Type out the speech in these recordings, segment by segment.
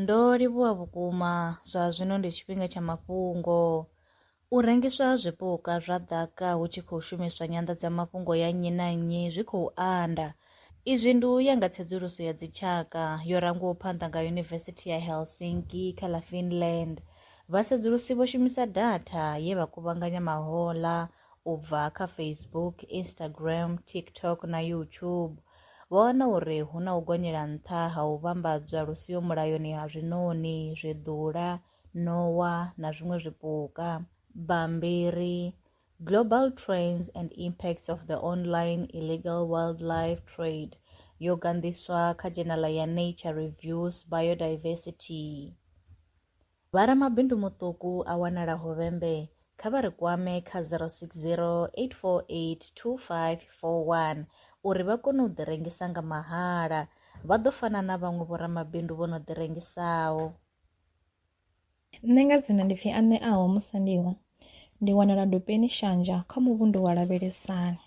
Ndo livhuwa vhukuma, zwa zwino ndi tshifhinga tsha mafhungo. U rengiswa ha zwipuka zwa ḓaka hu tshi khou shumiswa nyanḓadzamafhungo ya nnyi na nnyi zwi khou anda. Izwi ndi u ya nga tsedzuluso ya dzitshaka yo rangwaho phanḓa nga Yunivesithi ya Helsinki kha ḽa Finland. Vhasedzulusi vho shumisa datha ye vha kuvhanganya mahoḽa u bva kha Facebook, Instagram, TikTok na YouTube, vha wana uri hu na u gonyela nṱha ha u vhambadzwa lu siho mulayoni ha zwiṋoni, zwiḓula, ṋowa na zwiṅwe zwipuka. Bammbiri Global Trends and Impacts of the Online Illegal Wildlife Trade yo ganḓiswa kha dzhenala ya Nature Reviews Biodiversity. Vha ramabindu muṱuku a wanalaho Vhembe kha vha ri kwame kha 060 848 2541 uri vha kone u ḓirengisa nga mahala. Vha ḓo fana na vhaṅwe vhoramabindu vho no ḓirengisaho. Nṋe nga dzina ndi pfi Aṋeaho Musandiwa, ndi wanala Dopeni Shanja kha muvhundu wa Lavhelesani.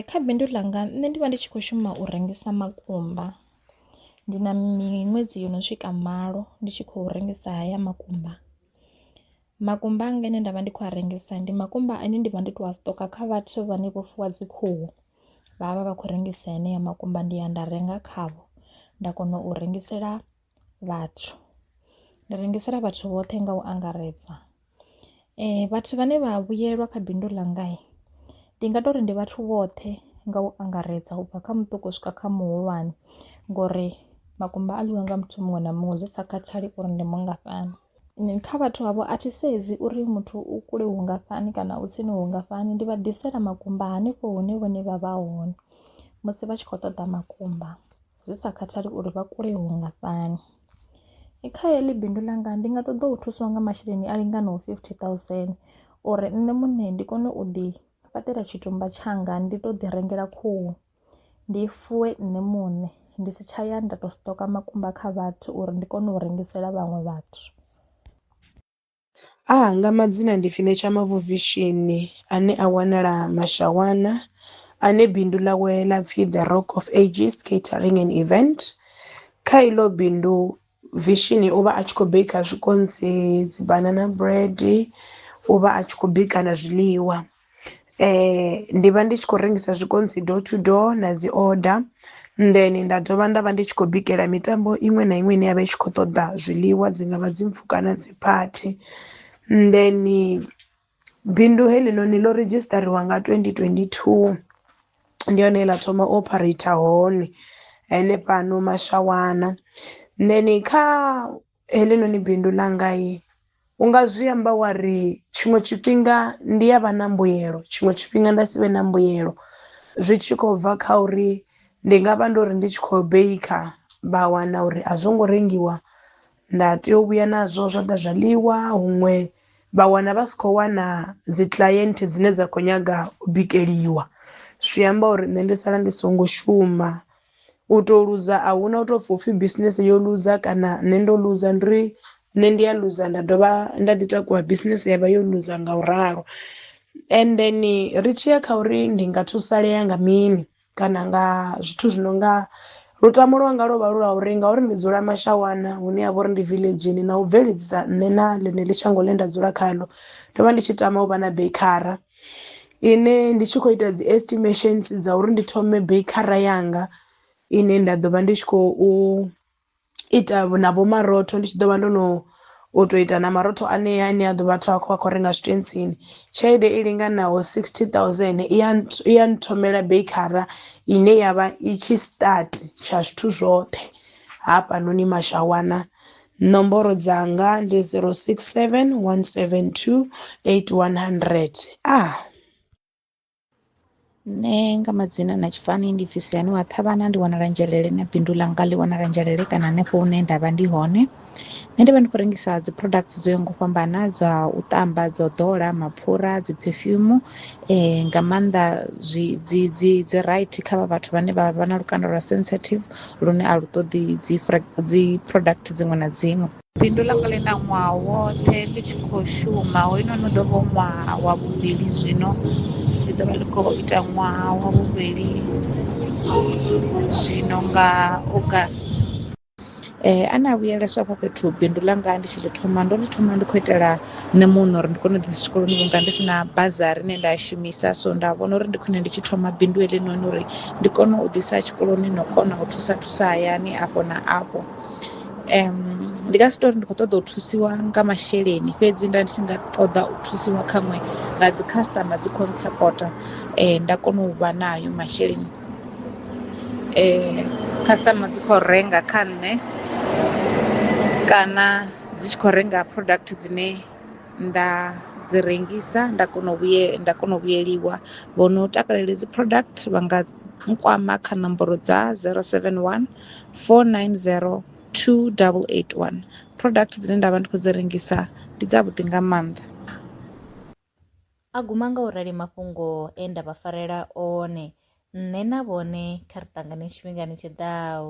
Kha bindu ḽanga nṋe ndi vha ndi tshi kho shuma u rengisa makumba, ndi na miṅwedzi yono swika malo ndi tshi khou rengisa haya makumba. Makumba anga ane ndavha ndi kho a rengisa ndi makumba ane ndivha ndo to a siṱoka kha vhathu vhane vho fuwa dzi khuhu, vhavha vha khou rengisa heneyo makumba ndi ya nda renga khavho nda kona u rengisela vhathu, ndi rengisela vhathu vhoṱhe nga u angaredza. Vhathu vhane vha vhuyelwa kha bindu ḽanga ndi nga tori ndi vhathu vhoṱhe nga u angaredza ubva kha muṱuku u swika kha muhulwane ngori makumba a ḽiwa nga muthu muṅwe na muṅwe zwi sa khathali uri ndi mungafhani. Kha vhathu havho a thi sedzi uri muthu u kule vhungafhani kana u tsini vhungafhani ndi vha ḓisela makumba hanefho hune vhone vha vha hone musi vha tshi kho ṱoḓa makumba. zwi sa khathali uri vha kule hungafhani kha heḽi bindu ḽanga ndi nga ṱoḓa u thuswa nga masheleni a linganaho fifty thousand uri nṋe muṋe ndi kone u ḓi fhaṱela tshitumba tshanga ndi to ḓi rengela khuhu ndi fuwe nṋe muṋe ndi si tsha ya nda to stocker makumba kha vhathu uri ndi kone u rengisela vhaṅwe vhathu. A hanga madzina ndi Finisha Mavuvhishini ane a wanala Mashawana ane bindu ḽawe ḽa pfhi The Rock of Ages Catering and Event. Kha iḽo bindu Vishini u vha a tshi khou bika zwikontsi, dzi banana bread, u vha a tshi khou bika na zwiḽiwa. Ndi vha ndi tshi khou rengisa zwikontsi door to door na dzi order then nda dovha nda vha ndi tshi khou bikela mitambo iṅwe na iṅwe ine ya vha i tshi kho ṱoḓa zwiḽiwa dzi ngavha dzi mpfhu kana dzi phathi, then bindu heḽi noni ḽo redzhistariwa nga twendi twendi thuu ndi hone he ḽa thoma u ophareitha hone hanefhano Mashawana then kha Heḽinoni bindu ḽanga. U nga zwi amba wa ri, Tshiṅwe tshifhinga ndi a vha na mbuyelo, tshiṅwe tshifhinga nda si vhe na mbuyelo. Zwi tshi khou bva kha uri ndi nga vha ndo ri ndi tshi khou beikha vha wana uri a zwo ngo rengiwa, nda tea u vhuya nazwo zwa ḓa zwa ḽiwa. Huṅwe vha wana vha si khou wana dzi client dzine dza khou nyaga u bikeliwa, zwi amba uri nṋe ndi sala ndi songo shuma. U to luza a huna u to pfhi upfhi bisinese yo luza kana nṋe ndo luza, ndi uri nṋe ndi a luza nda dovha nda ḓi takuwa bisinese yavha yo luza nga u ralo. And then ri tshiya kha uri ndi nga thusalea nga mini kana nga zwithu zwi no nga lutamo lwanga lwo vha lu lwa uri ngauri ndi dzula mashawana hune ha vha uri ndi villagini na u bveledzisa nṋe na ḽeneḽi shango ḽine nda dzula khaḽo ndo vha ndi tshi tama u vha na bekhara. ine ndi tshi khou ita dzi estimations dza uri ndi thome beikhara yanga ine nda ḓo vha ndi tshi khou ita na vho marotho ndi tshi ḓo vha ndo no u tou ita na marotho anea ane a ḓo vhathu a khou a khou renga zwitentsini tshelede i linganaho 60000 i ya i ya nthomela beikhara ine ya vha i tshi start tsha zwithu zwoṱhe hafhanoni mashawana Nomboro dzanga ndi 067 172 8100. Ah. nṋe nga madzina na tshifani ndi pfhi siani wa ṱhavhana ndi wanala nzhelele na bindu ḽanga ḽi wanala nzhelele kana hanefho hune nda vha ndi hone nṋe ndi vha ndi khou rengisa dzi products dzo yaho nga u fhambana dza u ṱamba dzo ḓola mapfhura dzi perfume um nga maanḓa zwi dzi dzi dzi right kha vha vhathu vhane vha vha na lukanda lwa sensitive lune a lu ṱoḓi dzi dzi product dziṅwe na dziṅwe. Bindu ḽanga ḽi na ṅwaha woṱhe ḽi tshi khou shuma, hoyunoni u ḓo vha u ṅwaha wa vhuvhili zwino, ḽi ḓo vha ḽi khou ita ṅwaha wa vhuvhili zwino nga August. A ne a vhuyeleswa afho fhethu bindu ḽanga ndi tshi ḽi thoma ndo ḽi thoma ndi khou itela nṋe muṋe uri ndi kone u ḓisa tshikoloni vhunga ndi si na bazari ine nda i shumisa, so nda vhona uri ndi khwine ndi tshi thoma bindu heḽinoni uri. ndi kone u ḓisa tshikoloni na u kona u thusa thusa hayani afho na afho ndi nga si tori ndi kho ṱoḓa u thusiwa nga masheleni fhedzi nda ndi tshi nga ṱoḓa u thusiwa khaṅwe nga dzi customer dzi kho ntsapota nda kona u vha nayo masheleni customer dzi kho renga kha nṋe kana dzi tshi kho renga product dzine. nda dzi rengisa nda kona u vhuye nda kona u vhuyeliwa vho no takalela dzi product vha nga nkwama kha nomboro dza 071 490 2881 product dzine nda vha ndi khou dzi rengisa ndi dza vhuḓi nga maanḓa a guma nga u rali mafhungo e nda vha farela one nṋe na vhone kha ri ṱangane tshifhingani tshiḓaho